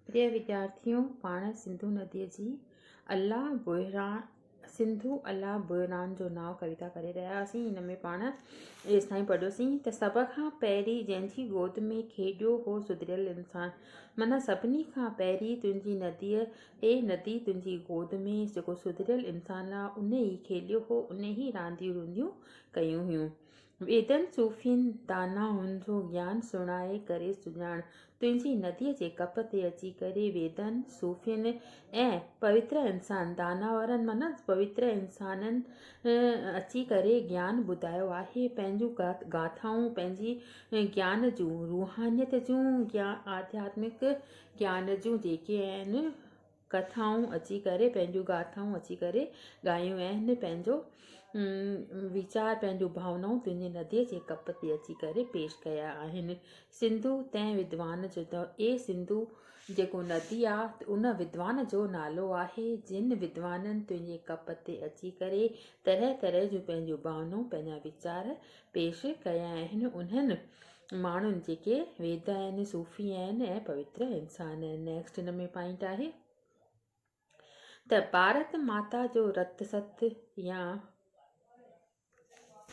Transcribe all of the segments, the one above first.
پريا وديارٿيو! پاڻ سنڌو نديء جي الله بحران سنڌو الله بحران جو نانء ڪويتا ڪري رهيا هئاسين. هن ۾ پاڻ ايستائين پڙهيوسين ته سڀ کان پهرين جنهن جي گود ۾ کيڏيو هو سڌريل انسان. معنيٰ سڀني کان پهرين تنهنجي نديء، اي ندي تنهنجي گود ۾ جيڪو سڌريل انسان آ، ان ئي کيڏيو هو، ان ئي رانديون رونديون ڪيون هيون. ويدن صوفين دانائن جو گيان سڻائي ڪري سڃاڻ، تنهنجي نديء جي ڪپ تي اچي ڪري ويدن، صوفين ۽ پوتر انسان، دانائن معنيٰ پوتر انسانن اچي ڪري گيان ٻڌايو آهي، پنهنجون گاٿائون، پنهنجي گيان جون، روحانيت جون يا آڌياتمڪ گيان جون جيڪي آهن، ڪٿائون اچي ڪري، پنهنجون گاٿائون اچي ڪري ڳايون اهن، پنهنجو ويچار، پنهنجون ڀاونائون تنهنجي نديء جي ڪپ تي اچي ڪري پيش ڪيا آهن. سنڌو تنهن ودوان جو ته اي سنڌو جيڪو ندي آ، ان ودوان جو نالو آهي، جن ودوانن تنهنجي ڪپ تي اچي ڪري طرح طرح جون پنهنجون ڀاونائون، پنهنجا ويچار پيش ڪيا آهن، انهن ماڻهن جيڪي ويدا آهن، صوفي آهن ۽ پوتر انسان آهن. نيڪسٽ هن ۾ پوائنٽ آهي ته ڀارت ماتا جو رت ست يا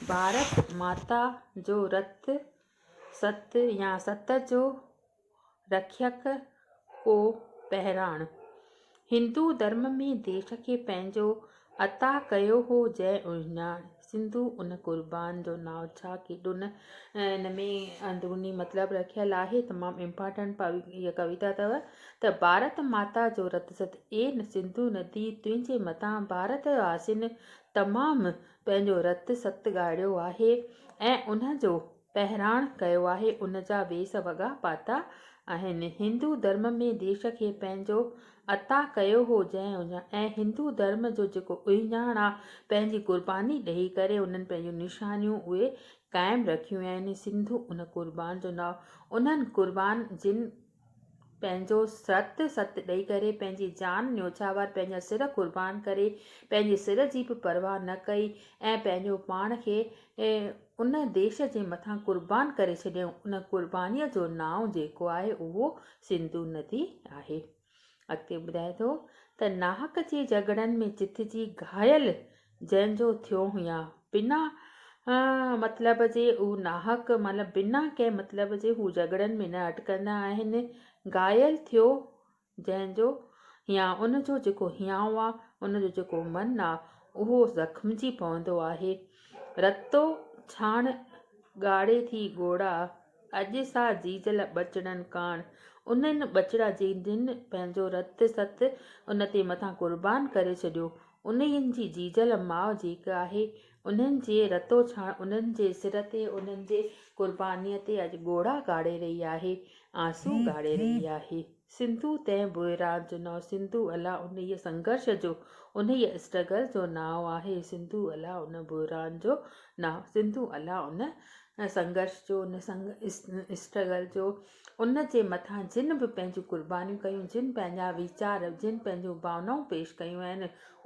ڀارت ماتا جو رت ست يا ست جو رکيڪ ڪو بهراڻ. هندو ڌرم ۾ ديش کي پنهنجو عطا ڪيو هو جنهن اهڃاڻ سنڌو ان قربان جو نانء ڇا ڪيڏو نه ان ۾ اندروني مطلب رکيل آهي تمام امپارٽنٽ هيء ڪويتا اٿو ته ڀارت ماتا جو رت ست اي سنڌو ندي تنهنجي مٿان ڀارت واسين تمام پنهنجو رت ست ڳاڙيو آهي ۽ ان جو پهراڻ ڪيو آهي، ان جا ويس وڳا پاتا آهن. هندو ڌرم ۾ ديش کي پنهنجو عطا ڪيو هو جنهن اڃا ۽ هندو ڌرم جو جيڪو اهڃاڻ آ پنهنجي قرباني ڏئي ڪري انهن پنهنجون نشانيون اهي قائم رکيون آهن سنڌو ان قربان جو ناء انهن قربان جن پنهنجو سرت ست ڏئي ڪري، پنهنجي جان نيوڇاور، پنهنجا سر قربان ڪري، پنهنجي سر جي به پرواهه نه ڪئي ۽ پنهنجو پاڻ کي ان ديش جي مٿان قربان ڪري ڇڏيائون. ان قربانيء جو نانء جيڪو آهي اهو سنڌو ندي آهي. اڳتي ٻڌائي ٿو ته ناحق جي جهڳڙن ۾ جت جي گهايل جنهن جو ٿيو هيان بنا مطلب جي هو ناحق مطلب بنا ڪنهن مطلب جي هو جهڳڙن ۾ نه اٽڪندا آهن گهايل ٿيو جنهن جو هيان ان جو جيڪو هيانء آ ان جو جيڪو من آ اهو زخمجي پوندو آهي رتو ڇاڻ ڳاڙهي ٿي ڳوڙها اڄ سا جيجل ٻچڙن ڪاڻ انهن ٻچڙا جنهن پنهنجو رت ست ان تي مٿان قربان ڪري ڇڏيو انهن جي جيجل ماء جيڪ آهي، انهن جي رتوڇاڻ انهن جي سر تي، انهن جي قربانيء تي اڄ ڳوڙها ڳاڙي رهي آهي، آنسو ڳاڙي رهي آهي. سنڌو تنهن بحران جو نانء سنڌو الا انهيء سنگهرش جو، انهيء اسٽرگل جو نانء آهي، سنڌو الا ان بحران جو نانء، سنڌو الا ان سنگهرش جو، ان اسٽرگل جو. ان جي مٿان جن به پنهنجون قربانيون ڪيون، جن پنهنجا ويچار، جن پنهنجون ڀاونائون پيش ڪيون آهن،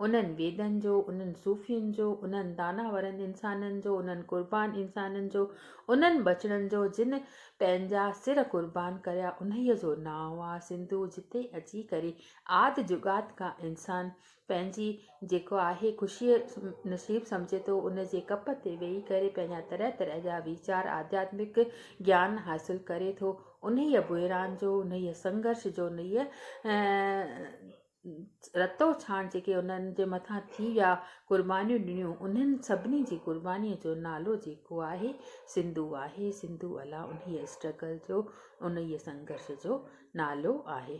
انهن ويدن جو، انهن صوفين جو، انهن داناورن انسانن جو، انهن قربان انسانن جو، انهن ٻچڙن جو جن پنهنجا سر قربان ڪريا، انهيء جو نانء آ سنڌو، جتي اچي ڪري آد جڳات کان انسان پنهنجي جيڪو آهي خوشيء نصيب سمجهي ٿو، ان جي ڪپ تي ويهي ڪري پنهنجا طرح طرح جا ويچار، آڌياتمڪ گيان حاصل ڪري ٿو. انهيء بحران جو، انهيء سنگهرش جو، انهيء رتو ڇاڻ جيڪي انهن جي مٿان ٿي ويا، قربانيون ڏنيون، انهن سڀني جي قربانيء جو نالو جيڪو آهي، سنڌو آهي. سنڌو الا انهيء اسٽرگل جو، انهيء سنگهرش جو نالو آهي.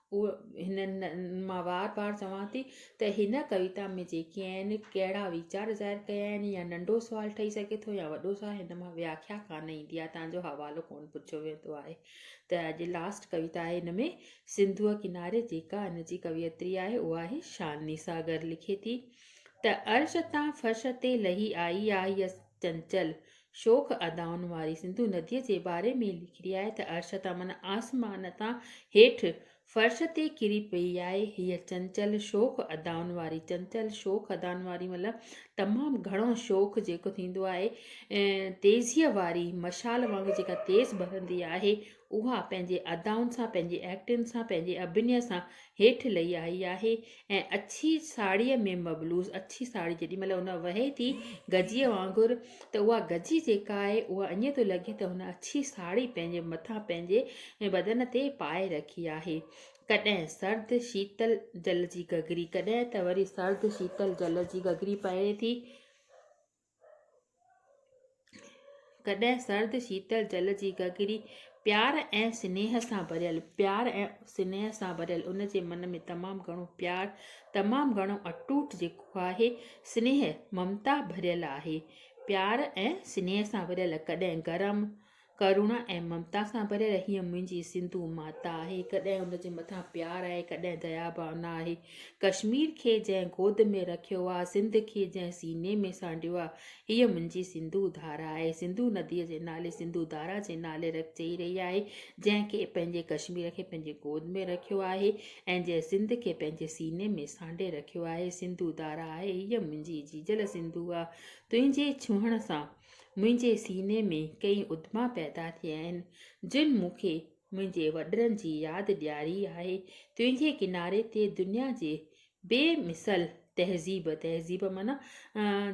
اهو هن مان وار وار چوان ٿي ته هن ڪويتا ۾ جيڪي آهن ڪهڙا ويچار ظاهر ڪيا آهن يا ننڍو سوال ٺهي سگهي ٿو يا وڏو سوال هن مان وياکيا ڪانه ايندي آهي تنهن جو حوالو ڪونه پڇيو ويندو آهي ته اڄ لاسٽ ڪويتا آهي هن ۾ سنڌوء ڪناري جيڪا هن جي ڪويتري آهي اها آهي شاني ساگر لکي ٿي ته عرش تان فرش تي لهي آئي آهي چنچل شوخ ادائن واري سنڌو نديء جي باري ۾ لکي آهي ته عرش تان معنيٰ آسمان تان هيٺ فرش تي ڪري پئي آهي. هيء چنچل شوخ ادائن واري، چنچل شوخ ادائن واري مطلب تمام گهڻو شوخ جيڪو ٿيندو آهي، تيزيء واري مشال وانگر جيڪا تيز ٻرندي آهي، اها پنهنجي ادائن سان، پنهنجي ايڪٽنگ سان، پنهنجي اڀنيء سان هيٺ لهي آئي آهي ۽ اڇي ساڙهيء ۾ مبلوس اڇي ساڙهي جيڏي مهل هن وهي ٿي گجيء وانگر ته اها گجي جيڪا آهي اها ائين ٿو لڳي ته هن اڇي ساڙهي پنهنجي مٿان پنهنجي بدن تي پائي رکي آهي. ڪڏهن سرد شيتل جل جي گگري ڪڏهن ته وري سرد شيتل جل جي گگري پهري ٿي. ڪڏهن سرد شيتل جل جي گگري پيار ۽ سنيهه سان ڀريل پيار ۽ سنيهه سان ڀريل ان جي من ۾ تمام گهڻو پيار تمام گهڻو اٽوٽ جيڪو آهي سنيهه ممتا ڀريل آهي پيار ۽ سنيهه سان ڀريل ڪڏهن گرم ڪرڻا ۽ ممتا سان ڀريل هيء منهنجي سنڌو ماتا آهي، ڪڏهن ان جي مٿان پيار آهي، ڪڏهن ديا ڀاونا آهي. ڪشمير کي جنهن گود ۾ رکيو آ، سنڌ کي جنهن سيني ۾ سانڍيو آ، هيء منهنجي سنڌو ڌارا آهي. سنڌو نديء جي نالي سنڌو ڌارا جي نالي چئي رهي آهي، جنهن کي پنهنجي ڪشمير کي پنهنجي گود ۾ رکيو آهي ۽ جنهن سنڌ کي پنهنجي سيني ۾ سانڍي رکيو آهي. سنڌو ڌارا آهي، هيء منهنجي جيجل سنڌو آ، تنهنجي ڇهڻ سان. منهنجي سيني ۾ ڪيئي ادما پيدا ٿئي آهن، جن مون کي منهنجي وڏڙن جي ياد ڏياري آهي. تنهنجي ڪناري تي دنيا جي بي مثل تهذيب، تهذيب معنيٰ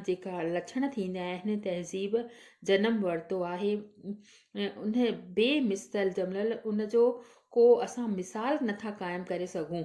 جيڪا لڇڻ ٿيندا آهن، تهذيب جنم ورتو آهي. ان بي مثل جملل ان جو ڪو اسان مثال نٿا قائم ڪري سگهون.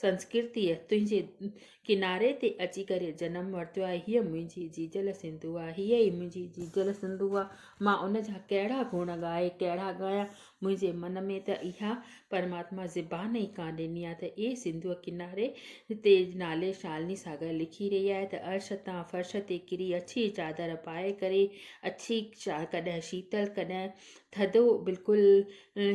سنسڪرتيء تنهنجي ڪناري تي اچي ڪري جنم ورتو آهي. هيء منهنجي جيجل سنڌو آ. هيء ئي منهنجي جيجل سنڌو آ. مان ان جا ڪهڙا گڻ ڳائي ڪهڙا ڳايان. منهنجي من ۾ ته اها پرماتما زبان ئي ڪانه ڏني آ ته اي سنڌوء ڪناري تي نالي شالني ساگر لکي رهي آهي ته عرش تان فرش تي ڪري اڇي چادر پائي ڪري اڇي ڪڏهن شيتل ڪڏهن ٿڌو بلڪل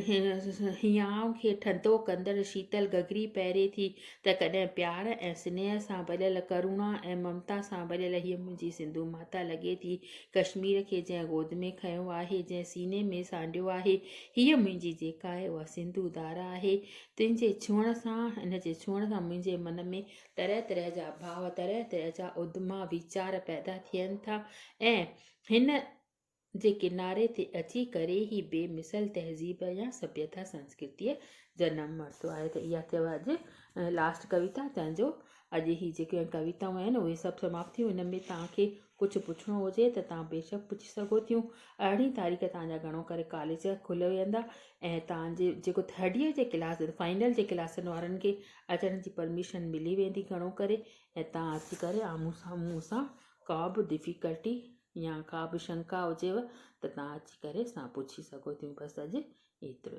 هينئائون کي ٺنڊو ڪندڙ شيتل گگري پهري ٿي ته ڪڏهن پيار ۽ سنيهه سان ڀريل ڪرونا ۽ ممتا سان ڀريل هيء منهنجي سنڌو ماتا لڳي ٿي ڪشمير کي جنهن گود ۾ کنيو آهي جنهن سيني ۾ سانڍيو آهي هيء منهنجي جيڪا آهي اها سنڌو ڌارا آهي تنهنجي ڇهڻ سان ان جي ڇهڻ سان منهنجي من ۾ طرح طرح جا ڀاء طرح طرح جا ادما ويچار پيدا ٿين ٿا ۽ هن جي ڪناري تي اچي ڪري هي بي مثل تهذيب يا سڀيتا سنسڪرتيء جنم ورتو آهي ته اها ٿيو اڄ لاسٽ ڪويتا تنهن جو اڄ هي جيڪي ڪويتائون آهن اهي سڀ سماپت ٿيون ان ۾ توهان کي ڪجهه پڇڻو هجي ته توهان بيشڪ پڇي سگهو ٿيون ارڙهين تاريخ توهان جا گهڻو ڪري ڪاليج کلي ويندا ۽ توهان جي جيڪو ٿرڊ ايئر جي ڪلاس فائنل جي ڪلاسن وارن کي اچڻ جي پرميشن ملي ويندي گهڻو ڪري ۽ توهان اچي ڪري آمهون سان مون سان ڪا به ڊفيڪلٽي يا ڪا به شنڪا هجيو ته تهان اچي ڪري اسان پڇي سگهو ٿيون بس اڄ ايترو ئي.